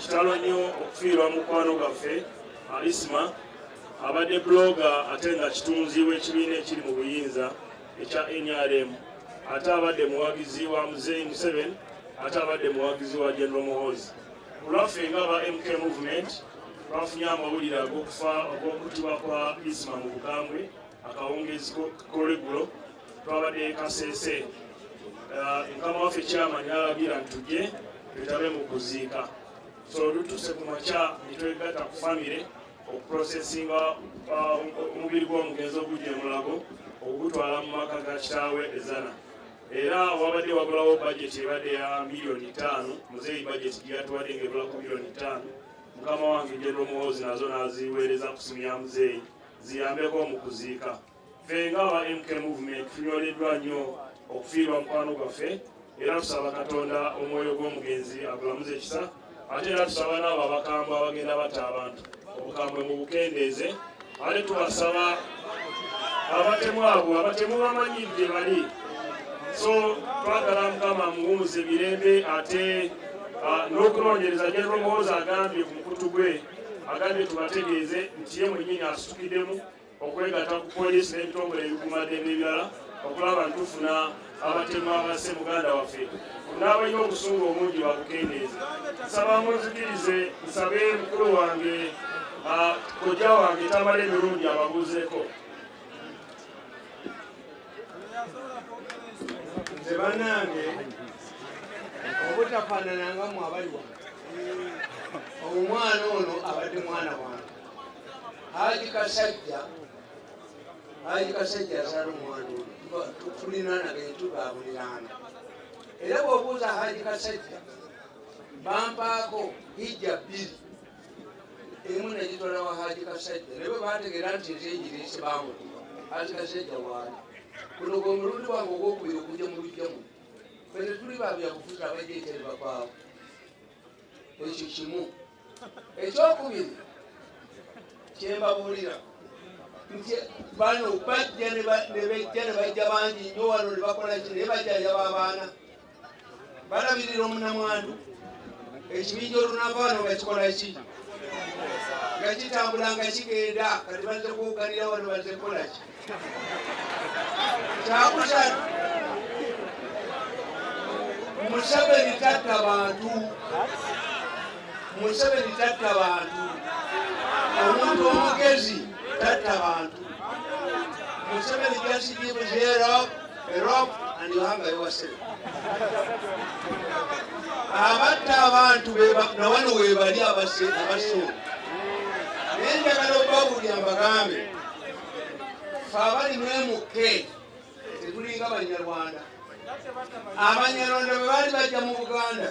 kitalo nnyo okufiirwa mukwano gaffe alisma abadde buloga ate nga kitunzi w'ekibiina ekiri mu buyinza ekya nrm ate abadde muwagizi wa muzeyi museven ate abadde muwagizi wa general muhozi kulwaffe nga ba mk movement bafunye amawulire ag'okufa ogw'okuttibwa kwa isma mu bukambwe akawungeezi kolweggulo twabadde kasese uh, mukama waffe kyamani alagira ntuje twetabe mu kuziika so olutuse ku makya netwegatta ku famire okuprosesinga uh, omubiri gw'omugenzi ogujja emulago okugutwala mu maka ga kitaawe ezana era wabadde wagulawo bajeti ebadde ya miliyoni ttaano muzeeyi bajeti gyeyatuwadde ngaebulako miliyoni ttaano mukama wange general muhoozi nazo naziweereza ku simu ya muzeeyi ziyambeko mu kuziika. Ffe nga aba MK Movement tunyoleddwa nnyo okufiirwa mukwano gwaffe era tusaba Katonda omwoyo gw'omugenzi agulamuze kisa ate era tusaba n'abo abakambwe abagenda batta abantu obukambwe mu bukendeeze ate tubasaba abatemu abo abatemu bamanyi gye bali so twagala mukama muwumuze mirembe ate ah, n'okunoonyereza general muhoozi agambye ku mukutu gwe agambye tubategeeze nti ye mwenyini asitukiddemu okwegata ku poliisi n'ebitongole ebikuumaddembe ebirala okulaba ntufuna abatemu abasse muganda waffe n'abalina obusungu obungi babukendeeze nsaba munzikirize nsabe mukulu wange kojja wange tamala emirundi ababuuzeeko nze banange obutafanana nga mwe abali wano omwana ono abadde mwana wange haji kasajja haji kasajja azala omwana ono tulina nagee tubabulirana era bwobuuza haji kasajja bampaako hijja bbiri emu nagitwala wa haji kasajja naye bwebategeera nti nze enjiri nsibamu haji kasajja waali kuno gwe omulundi wange ogwokubiri okujja mu lujjamu fene tuli babyabufuzi abajja ekyali bakwaawo ekyo kimu ekyokubiri kyembabuulira nti bano bajja nebajja nebajja bangi nyo wano nebakola ki naye bajja yaba abaana balabirira omunamwandu ekibinja olunaavaano nga kikola ki nga kitambula nga kigenda kati bazze kuwuganira wano bazze kukola ki kyakusatu museveni tatta bantu museveni tatta bantu omuntu omugezi tatta bantu museveni just gives abatta abantu nawano webali abasuubi naye njagala okubabulira mbagambe fe abali mwemukke tetulinga banyarwanda abanyarwanda bwe baali bajja mu buganda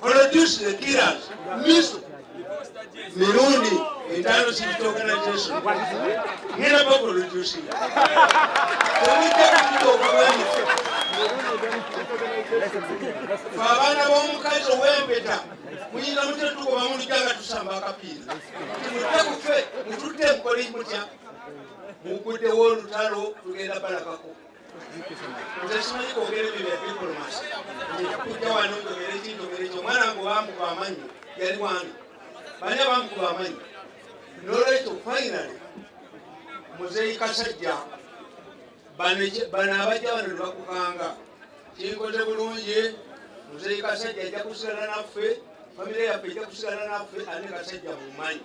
produce the killers miso mirundi etaano civil organization ngera baproducinga temujja kututa obulwani fe abaana b'omukazi ow'empeta muyinza mutya tugoba mulija nga tusamba akapiira timujja kufe mututte mukole mutya muguddewo olutalo tugenda balabako nze simanyi kwogera ebyo bya diplomasi njakujja wano njogere ki njogere ki omwana wange obamukuba amanyi yali wani bani abamukuba amanyi nolwekyo finally muzeyi kasajja bano abajja bano nebakukanga kinkoze bulungi muzeyi kasajja ajja kusigala naffe famire yaffe ejja kusigala naffe ane kasajja mumanyi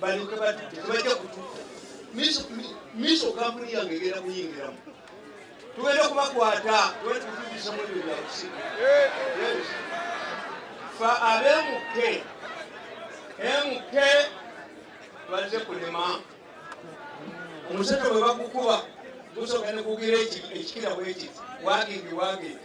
balyoke bati tebajja kutu miso kampuni yange egenda kuyingiramu tugenda kubakwata tubatukutubisemu ebyo byakusiga fa abemuke emuke baze kulema omusajja bwe bakukuba gusogenda kugira ekikira bwekiti wagindi wagindi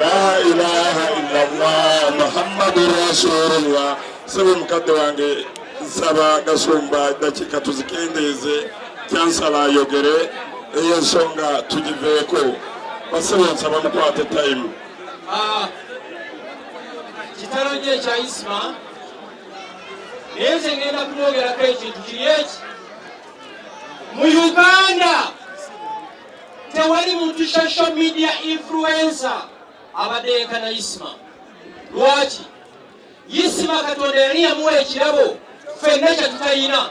La ilaha illallah Muhammadu rasulullah. Sebe mukadde wange nsaba gasumba dakika tuzikendeeze kyansala ayogere eyo ensonga tugiveeko basebo nsaba mukwate time ah, kitalo nyo ekya isma naye nze ngenda kumwogerako ekintu kiri eki mu uganda tewali muntu social media influencer abadde yenkana isima lwaki isima katonda yali yamuwa ekirabo fenna kyetutayina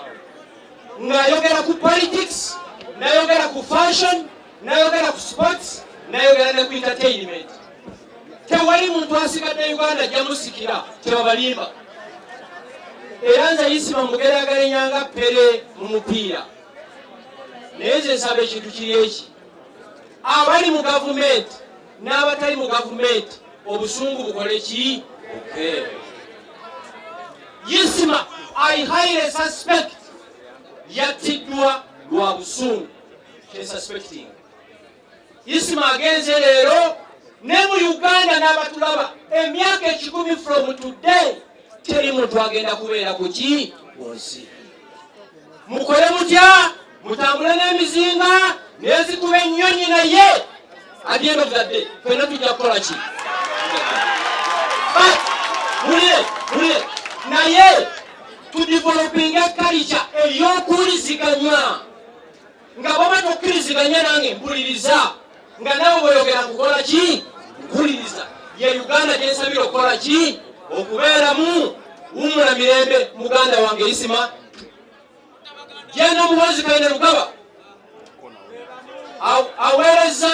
ng'ayogera ku politics nayogera ku fashion nayogera ku sports nayogera ne ku entertainment tewali muntu asigadde uganda jamusikira tebabalimba era nze isima mugeragarenyanga pere mu mupiira naye nze nsaba ekintu kiri eki abali mu gavumenti n'abatali mu gavumenti obusungu bukole ki yisima i highly suspect yattiddwa lwa busungu kyesuspecting isima agenze leero ne mu uganda n'abatulaba emyaka ekikumi from today teri muntu agenda kubeera ku ki munsi mukole mutya mutambule n'emizinga nezikuba ennyonyi naye agenda obudadde fena tujja kukola ki mulire mulire naye tudivolopinga kalica eyokuwuliziganya nga bwoba tokkiriziganya nange mpuliriza nga nawe weyogera kukola ki mpuliriza ye uganda gyensabira okukola ki okubeeramu wumula mirembe muganda wange isima genda omuhoozi kaine lugaba aweereza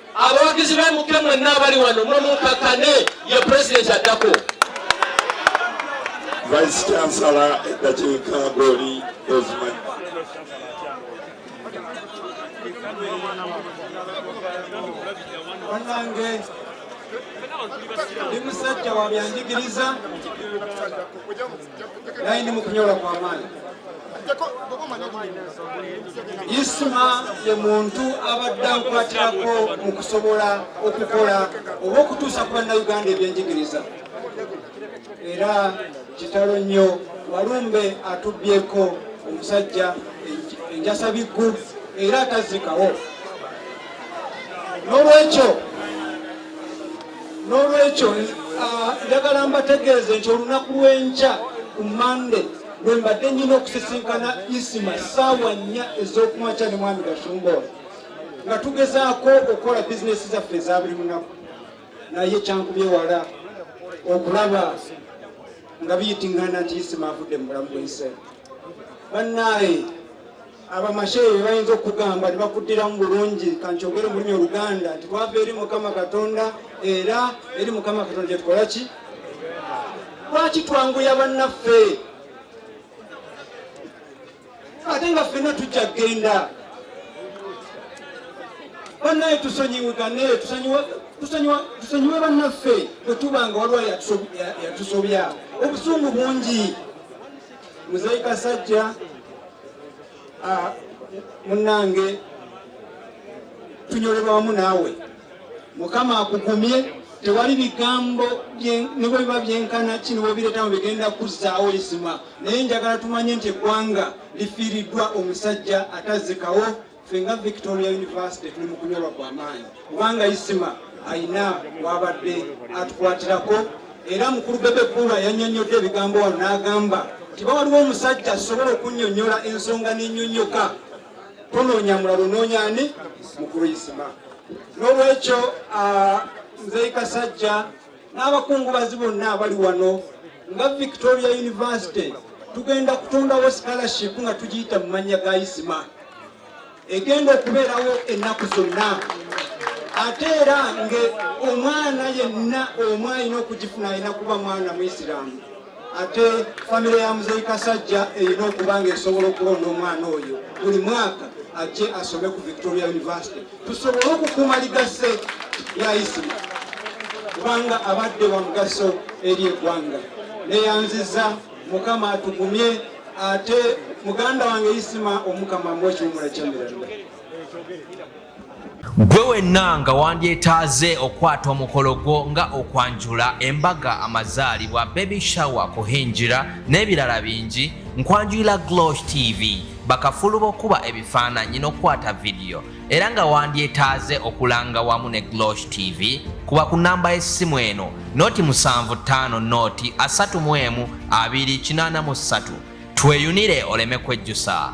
abawagizi be muke mwenna abali wano mwe munkakkane ye pulezidenti addako vice chansala eddakiika goli ozimanyi banange ndi musajja wa byanjigiriza naye ndi mukunyola kwa maanyi isuma ye muntu abadde ankwatirako mu kusobola okukola oba okutuusa ku bannayuganda ebyenjigiriza era kitalo nnyo walumbe atubbyeko omusajja enjasa biggu era atazikawo n'olwekyo n'olwekyo ah, njagala mbategeeze nti olunaku lw'enkya ku mande lwe mbadde nyina okusisinkana isima saawa nnya ez'okumakya ne mwami gashumba oyo nga tugezaako okukola bizinesi zaffe eza buli lunaku naye kyankubyewala okulaba nga biyitingana nti isima avudde mu bulamu bw'ensi bannaaye abamasheyi bebayinza okugamba nebakuddiramu bulungi kankyogere mulimi oluganda nti twava eri mukama katonda era eri mukama katonda gyetukola ki lwaki twanguya bannaffe ate nga ffenna tujja kgenda banaye tusonyiwigane tusonyiwe bannaffe bwetuba nga waliwo yatusobya obusungu bungi Muzeeyi Kasajja ah, munnange tunyolera wamu naawe mukama akugumye tewali bigambo nibwe biba byenkana ki niwebireetamu bigenda kuzzaawo izima naye njagala tumanye nti eggwanga lifiiriddwa omusajja atazikawo ffe nga victoria university tuli mu kunyolwa kwa maanyi kubanga isima alina wabadde atukwatirako era mukulu bebe kuula yanyonyodde ebigambo wano n'agamba nti bawaliwo omusajja asobola okunyonyola ensonga nenyonyoka tonoonya mulalo noonya ani mukulu isima n'olwekyo ah, nzei kasajja n'abakungubazi bonna abali wano nga victoria university tugenda kutondawo scholarship nga tugiyita mu mannya ga isima egenda okubeerawo ennaku zonna ate era nga omwana yenna omu alina okugifuna alina kuba mwana muisiraamu ate famire ya muzeyi kasajja erina okuba nga esobola okulonda omwana oyo buli mwaka ajje asome ku victoria university tusobole okukuuma ligasse lya isima kubanga abadde wa mugaso eri eggwanga neyanziza mukama atugumye ate muganda wange isima omukama mbu ekiwumula kyamiranda gwe wenna nga wandyetaaze okukwata omukolo gwo nga okwanjula embaga amazaalibwa baby shower kuhingira n'ebirala bingi nkwanjulira glosh tv bakafulu b'okukuba ebifaananyi n'okukwata vidiyo era nga wandyetaaze okulanga wamu ne glosh tv kuba ku namba y'essimu eno noti 75 noti 31283 tweyunire oleme kwejjusa